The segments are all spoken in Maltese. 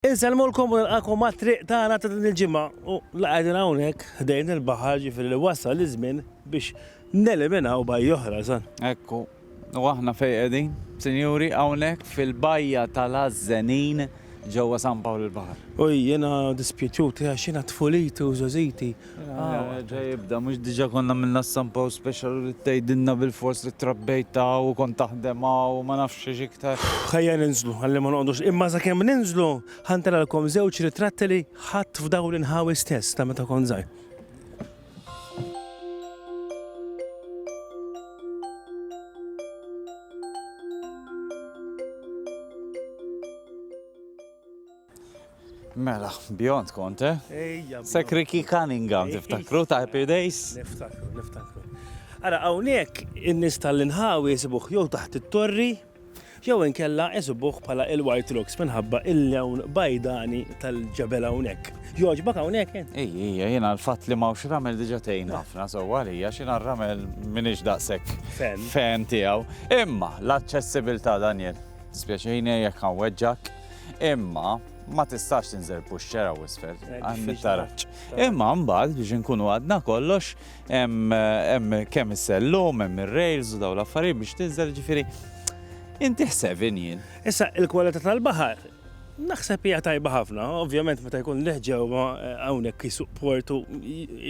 Insellmulkom u nilqagħkom għat-triq tagħna ta' din il-ġimgħa u la qegħdin hawnhekk ħdejn il-baħar jiġifieri li wasal iż-żmien biex neliminaw bajja oħra, San. Ekku. U aħna fejn qegħdin, sinjuri, hawnhekk fil-bajja tal-Għażżenin ġewwa San Pawl il-Baħar. U jiena dispjaċut għax jiena tfuliti u żgħożiti Ġa jibda, mhux diġà konna għamilna s-sampa u special u li tgħidilna bilfors li trabbejt hawn u kont taħdem hawn u ma nafx xiex iktar. Ħajja ninżlu, ħalli ma noqgħodux. Imma sakemm ninżlu, ħa ntilgħalkom żewġ ritratti li ħadt f'dawn l-inħawi stess ta' meta kont żgħir. Mela, beyond Conte. Ejja. Sek Ricky Cunningham, tiftakru ta' Happy Days? Niftakru, niftakru. Ara, hawnhekk in-nies tal-inħawi jsibuh jew taħt it-torri, jew inkella jsibuh bħala il-White Rocks minħabba il-lewn bajdani tal-ġebel hawnhekk. Jogħġbok hawnhekk int? Ej, ejja, jiena l-fatt li m'hawnx ramel diġà tgħin ħafna sewwa għalija għax jiena r-ramel m'iniex daqshekk fan tiegħu. Imma l-aċċessibilità Daniel, dispjaċini jekk ħanweġġgħek. Imma ma tistax tinżel puxxera u isfel, eh, għanni taraċ. Imma mbagħad biex inkunu għadna kollox, hemm kemm is-sellum, hemm ir-rails u daw l-affarijiet biex tinżel ġifieri. Inti ħseb jien. Issa il-kwalità tal-baħar Naħseb hija tajba ħafna, ovvjament meta jkun leħġew eh, hawnhekk jisuq portu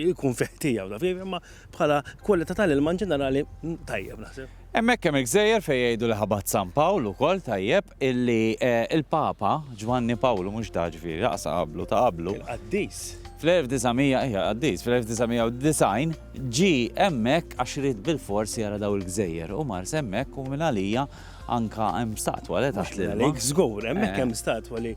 jkun fiħtija u dafir, imma bħala kwalità tal-ilma ġenerali mm, tajjeb naħseb. Hemmhekk hemm il-gżejjer fejn jgħidu li ħabat San Pawl ukoll tajjeb illi l-Papa Ġwanni Pawlu mhux da ġifieri laqas ta' qablu ta' qablu. Il-qaddis. Fl-1900 ejja qaddis fl-1990 ġie hemmhekk għax ried bilfors jara dawn il-gżejjer u mars hemmhekk u mingħalija anka hemm statwa le taħt l-ilma. Mhux mingħalik żgur hemmhekk hemm statwa li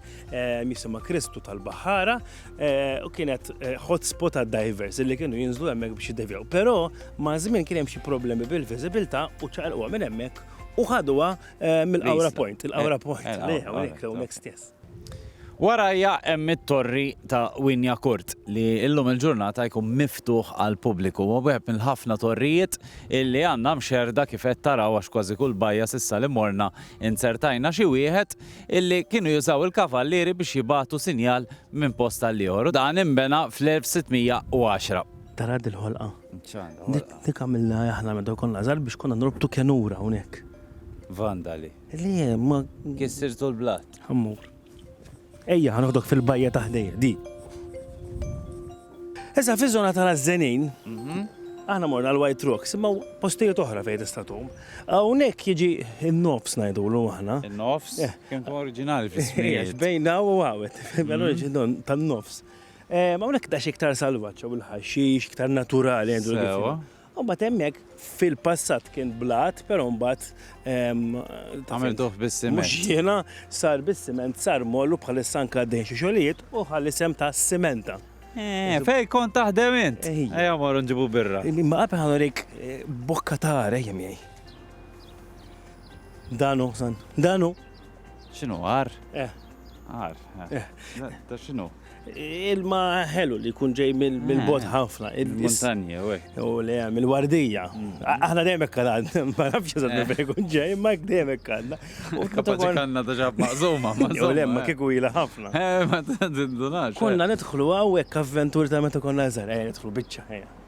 jisimha Kristu tal-Baħħara. Eh, u kienet eh, hotspot għad divers li kienu jinżlu hemmhekk biex jiddevjaw. Però ma' żmien kien hemm xi problemi bil-viżibilità u ċaqalquha minn hemmhekk u ħaduha eh, mill-Awra Point, il-Awra Point, li hawnhekk hawnhekk stess. Warajja hemm it-torri ta' Winja Kurt li illum il-ġurnata jkun miftuħ għal pubbliku u wieħed mill-ħafna torrijiet illi għandna mxerda kif qed taraw għax kważi kull bajja sissa li morna inzertajna xi wieħed illi kienu jużaw il-kavallieri biex jibagħtu sinjal minn post għal ieħor u dan inbena fl-1610. Tara din ħolqa. Dik għamilna aħna meta konna żgħar biex konna norbtu kenura hawnhekk. Vandali. Li ma. Kissirtu l-blat. Ammur. Ejja, ħanoħdok fil-bajja ta' ħdejja, di. Issa fiż-żona tal-Ażżenin, aħna morna l-White Rocks, imma postijiet oħra fejn tista' tgħum. Hawnhekk jiġi n-nofs ngħidulu aħna. In-nofs? Eh. Kemm tkun oriġinali fis-smieħ. Bejn daw u għawet, l-oriġin mhm. tan-nofs. Eh, hawnhekk dax iktar salvaġġ u l-ħaxix, iktar naturali għandu l U mbagħad hemmhekk fil-passat kien blat, però mbagħad għamiltuh bis-siment. Mhux jiena sar bis-siment sar mollu bħalissa anke għaddejn xi xogħlijiet u ħalli sem ta' simenta. Eh, fej kont taħdem int? Ejja morru nġibu birra. Ma qabel ħanorik eh, bokka ta' għar ejjem jgħi. Danu, san. Danu. X'inhu għar? Eh. Għar. Eh. eh. Da x'inhu? Ilma ħelu li jkun ġej mill-bot ah, ħafna. Il-montanja, u U le, mill-wardija. Mm. Aħna dejjem hekk għadna, ma nafx eżatt minn fejn jkun ġej, ma hekk dejjem hekk għadna. U kapaċi kanna ta' ġab maqżuma, ma U le, ma eh. kieku ila ħafna. Eh, ma tindunax. Konna eh. nidħlu hawnhekk avventur ta' meta konna eżar, eh, nidħlu biċċa ħajja.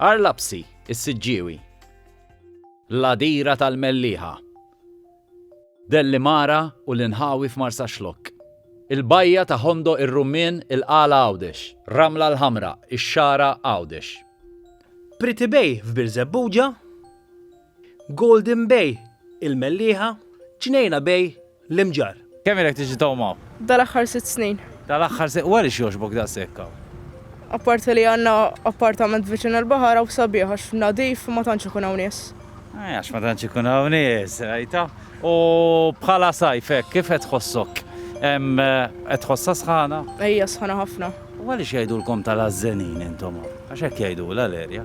Għar Lapsi, is-Siġġiewi. L-Għadira tal-Mellieħa. Dellimara u l-inħawi f'Marsaxlokk. Il-Bajja ta' Hondo ir-Rummien il-Qala Għawdex. Ramla l-Ħamra, ix-Xagħra Għawdex. Pretty Bay f'Birżebbuġa. Golden Bay, Il-Mellieħa, Ġnejna Bay, L-Imġarr. Kemm ilek tiġi tgħum hawn? Dal-aħħar sitt snin. Dal-aħħar sitt, u għaliex jogħġbok daqshekk hawn? Apparti li għandna appartament viċin il-baħar hawn sabiħ għax nadif ma tantx ikun hawn nies. Eh, għax ma tantx ikun hawn nies, rajta? U bħala sajf hekk kif qed tħossok? Em, eh, Qed tħossha sħana? Ejja sħana ħafna. U għaliex jgħidulkom tal-ażżenin intom hawn? Għax hekk jgħidulha l-erja.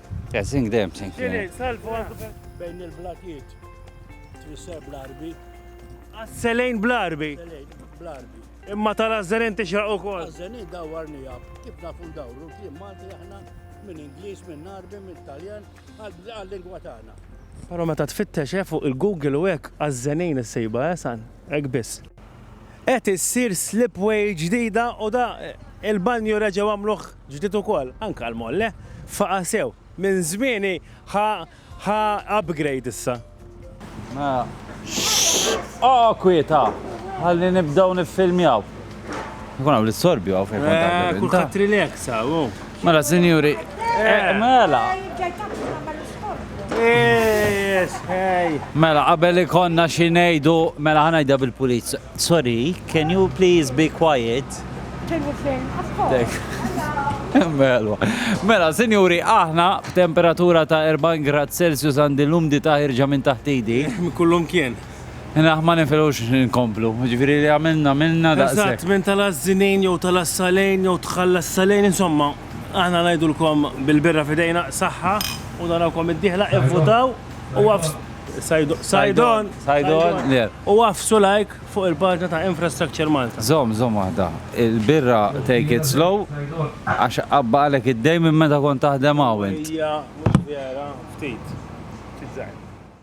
Yeah, sing them, sing them. Xini, tal-vant bejn il-blatijiet. Twisser bl-arbi. Asselejn bl-arbi. Bl-arbi. Imma tal-azzeren tixraq u kol. Azzeren dawar nijab. Kif nafu dawru, kif Malti aħna minn Ingliż, minn Arbi, minn Taljan, għal-lingwa tagħna. Però meta tfittex eh, fuq il-Google u hekk għażżenejn is-sejba, eh, san, hekk biss. Qed issir slipway ġdida u da il-banju reġgħu għamluh ġdid ukoll, anke l-molle faqa' sew. Minn żmieni ħa ħa upgrade issa. Mela, xxxx! Oqgħo kwieta! Ħalli nibdew niffilmjaw. Ikun hawn l-istorbju hawn fejn kont qabel inta. Kulħadd relax hawn. Mela, sinjuri. Eh, mela. Mela, qabel ikonna xi ngħidu, mela ħanajda bil-puliz. Sorry, can you please be quiet? Mela, mela, sinjuri, aħna b'temperatura ta' 40 grad Celsius għandi l-umdi ta' ħirġa minn taħtidi. Kullum kien. Naħ ma ninfilux nkomplu, jiġifieri li għamilna għamilna daqshekk. Eżatt, minn tal-Għażżinin jew tal-Għassalejn jew tħall-Għassalejn, insomma, aħna ngħidulkom bil-birra f'idejna, saħħa u narawkom id-dieħla, ivvutaw u għafs. Sajdon. Sajdon. Sajdon. U għafsu like fuq il-paġna ta' Infrastructure Malta. Zom, zom waħda. Il-birra take it slow, għax qabba għalek id-dej minn meta kont taħdem għawint. Ija, vera, ftit. Ftit zaħi.